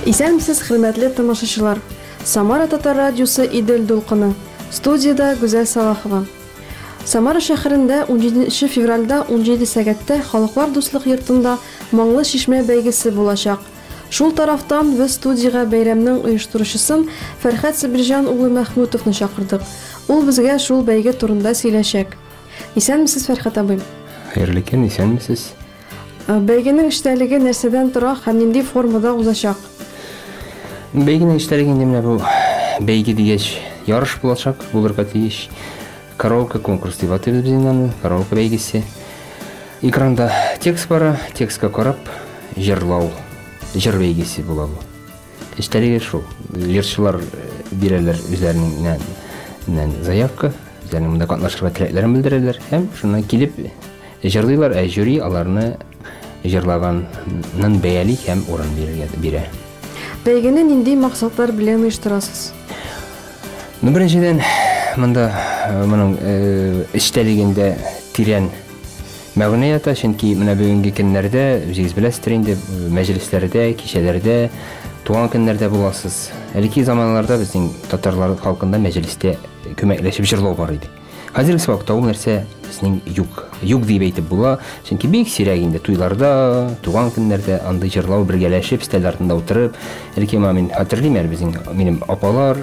Исәнмесез, хөрмәтле тамашачылар. Самара татар радиосы Идел дулкыны. Студиядә Гүзәл Салахова. Самара шәһәрендә 17 февральдә 17 сәгатьтә Халыклар дуслык йортында Моңлы чишмә бәйгесе булачак. Шул тарафтан без студиягә бәйрәмнең оештыручысын Фәрхәт Сабирҗан улы Мәхмүтовны чакырдык. Ул безгә шул бәйге турында сөйләшәк. Исәнмесез, Фәрхәт абый. Хәерле көн, исәнмесез. Бәйгенең эчтәлеге нәрсәдән тора һәм нинди формада узачак? Бәйгенең эчтәлеге инде менә бу бәйге дигәч, ярыш булачак, булырга тиеш. Караоке конкурс дип атыйбыз без аны, караоке бәйгесе. Экранда текст бара, текстка карап, җырлау, җыр бәйгесе була бу. Эчтәлеге шул. Җырчылар бирәләр үзләреннән заявка, үзләренең монда катнашырга теләкләрен белдерәләр һәм шуннан килеп җырлыйлар, ә жюри аларны җырлаганнын бәяли һәм урын бирә. Бәйгене нинди максатлар белән оештырасыз? Ну, беренчедән, монда моның эчтәлегендә тирән Мәгънә ята, чөнки менә бүгенге көннәрдә, үзегез беләсездер инде, мәҗлесләрдә, кичәләрдә, туган көннәрдә буласыз. Элекке заманнарда безнең татарлар халкында мәҗлестә күмәкләшеп җырлау бар иде. Хәзерге вакытта ул нәрсә безнең юк. Юк дип әйтеп була, чөнки бик сирәк инде туйларда, туган көннәрдә андый җырлау бергәләшеп, стәл артында утырып, элекке мамин хәтерлим әле безнең минем апалар,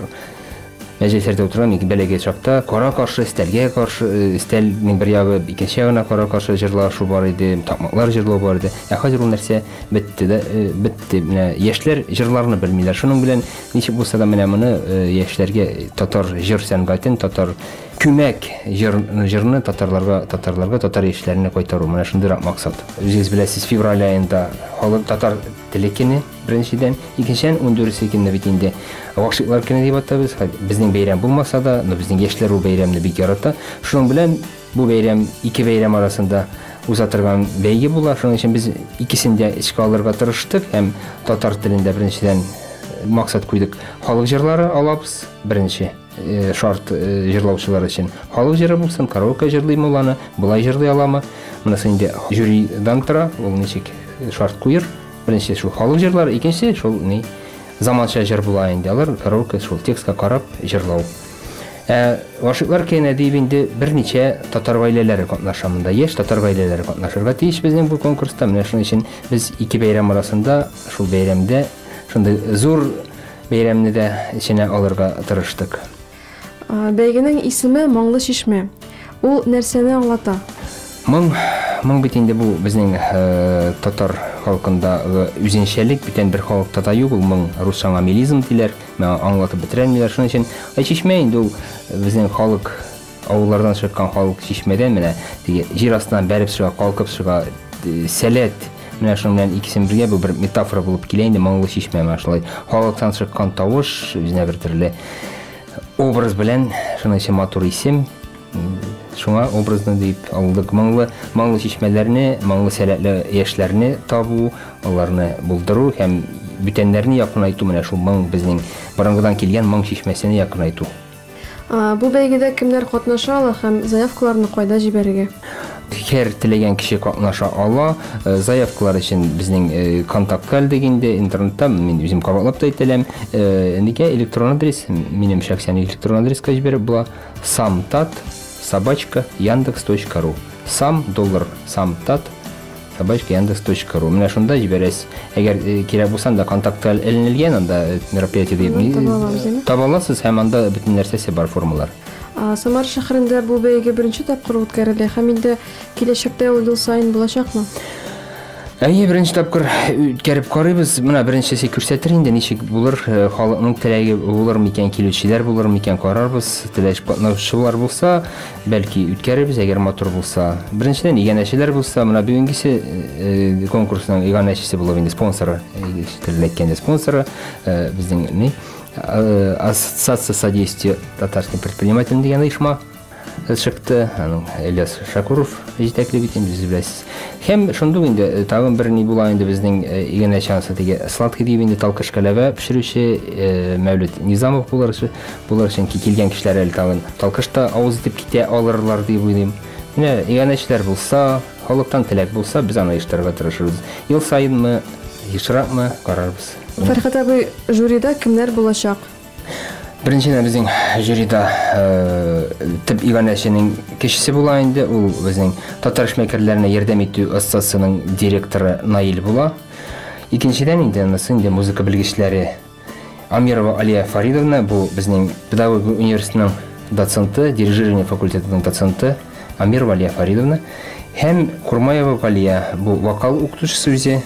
Мәҗлесләрдә утырган ике бәләгә чакта кара-каршы өстәлгә каршы э, өстәлнең бер ягы икенче ягына кара-каршы җырлашу бар иде, такмаклар җырлау бар иде. Ә хәзер ул нәрсә бетте дә э, бетте. Менә яшьләр җырларны белмиләр. Шуның белән ничек булса да менә моны э, яшьләргә татар җыр сәнгатен, татар күмәк җыр, җырны татарларга, татарларга, татар яшьләренә кайтару. Менә шундыйрак максат. Үзегез беләсез, февраль аенда халык татар теле көне. Беренчедән, икенчедән ундүресе көнне бит инде гашыйклар көне дип атабыз. Безнең бәйрәм булмаса да, но безнең яшьләр бу бәйрәмне бик ярата. Шуның белән бу бәйрәм ике бәйрәм арасында уза торган бәйге була. Шуның өчен без икесен дә эчкә алырга тырыштык һәм татар телендә беренчедән э, максат куйдык. Халык җырлары алабыз беренче э, шарт э, җырлаучылар өчен. Халык җыры булсын, караоке җырлыймы ул аны, болай җырлый аламы? Монысы инде жюридан тора, ул ничек шарт куер. Беренче шул халык җырлары, икенче шул ни заманча җыр була инде. Алар караоке шул текстка карап җырлау. Ә гашыйклар кенә дип инде берничә татар гаиләләре катнаша монда. Яшь татар гаиләләре катнашырга тиеш безнең бу конкурста. Менә шуның өчен без ике бәйрәм арасында шул бәйрәмдә шундый зур бәйрәмне дә эченә алырга тырыштык. Бәйгенең исеме Моңлы чишмә. Ул нәрсәне аңлата? Моң, моң бит инде бу безнең татар халкында үзенчәлек, бүтән бер халыкта да юк ул моң. Русча аңа мелизм диләр, миңа аңлатып бетерәлмиләр. Шуның өчен ә чишмә инде ул безнең халык авыллардан чыккан халык чишмәдән менә теге җир астыннан бәреп чыга, калкып чыга, сәләт Менә шуның белән икесен бергә бу бер метафора булып килә инде моңлы чишмә менә шулай халыктан чыккан тавыш үзенә бер төрле образ белән шуның өчен матур исем шуңа образны дип алдык моңлы моңлы чишмәләрне моңлы сәләтле яшьләрне табу аларны булдыру һәм бүтәннәрне якынайту менә шул моң безнең борынгыдан килгән моң чишмәсенә якынайту Бу бәйгедә кемнәр катнаша ала һәм заявкаларны кайда җибәрергә? Һәр теләгән кеше катнаша ала. Э, заявкалар өчен безнең э, контакт калдык инде интернетта мин үзем кабатлап та әйтәләм. Э, нигә электрон адрес? Минем шәхсән электрон адреска җибәреп була. samtat собачка яндекс.ру сам доллар самтат Собачка яндекс точка ру. Менә шунда җибәрәс. Әгәр кирәк булса, анда контактлар эленелгән, анда мероприятие дип таба аласыз һәм анда бөтен нәрсәсе бар, формалар. Самар шәһәрендә бу бәйге беренче тапкыр үткәрелә һәм инде киләчәктә ул ел саен булачакмы? Әйе, беренче тапкыр үткәреп карыйбыз. Менә беренчесе күрсәтер инде, ничек булыр, халыкның теләге булыр микән, килүчеләр булыр микән, карарбыз. Теләч катнашучылар булса, Бәлки үткәрербез, әгәр матур булса. Беренчедән, иганәчеләр булса, менә бүгенгесе э, конкурсның иганәчесе булып инде спонсоры, э, телендә әйткәндә спонсоры, э, безнең ни, э, Ассоциация содействия татарским предпринимателям дигән оешма э, чыкты. Аның Ильяс Шакуров җитәкли бит инде, сез беләсез. Һәм шундук инде э, тагын бер ни була инде безнең э, иганәче анысы теге сладкий дип инде талкыш кәләвә пешерүче э, Мәүлет Низамов булыр. Булыр, чөнки килгән кешеләр әле тагын талкышта авыз итеп китә алырлар дип уйлыйм. Менә иганәчеләр булса, халыктан теләк булса, без аны оештырырга тырышырбыз. Ел саенмы, ешракмы карарбыз. Фәрхәт абый, жюрида кемнәр булачак? Беренчедән безнең жюрида э, төп иганәченең кешесе була инде, ул безнең татар эшмәкәрләренә ярдәм итү оссасының директоры Наил була. Икенчедән инде анысы инде музыка белгечләре Амирова Алия Фаридовна, бу безнең педагогия университетының доценты, дирижирование факультетының доценты Амирова Алия Фаридовна һәм Курмаева Галия, бу вокал укытучысы үзе,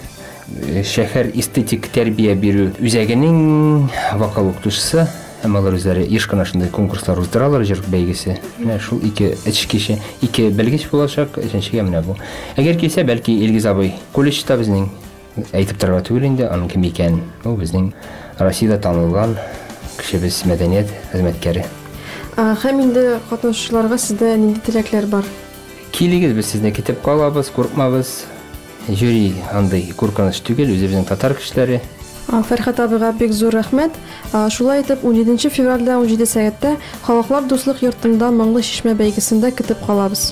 э, шәһәр эстетик тәрбия бирү үзәгенең вокал укытучысы һәм алар үзләре еш кына шундый конкурслар уздыралар, җыр бәйгесе. Менә шул ике эш кеше, ике белгеч булачак, өченчегә менә бу. Әгәр килсә, бәлки Илгиз абый колледжда безнең Әйтеп торырга түгел инде, аның кем икәнен. Ул безнең Россиядә танылган кешебез, мәдәният хезмәткәре. Һәм инде катнашучыларга сездә нинди теләкләр бар? Килегез, без сезне көтеп калабыз, куркмабыз. Жюри андый куркыныч түгел, үзебезнең татар кешеләре. Фәрхәт абыйга бик зур рәхмәт. Шулай итеп, унҗиденче февральдә унҗиде сәгатьтә Халыклар дуслык йортында Моңлы чишмә бәйгесендә көтеп калабыз.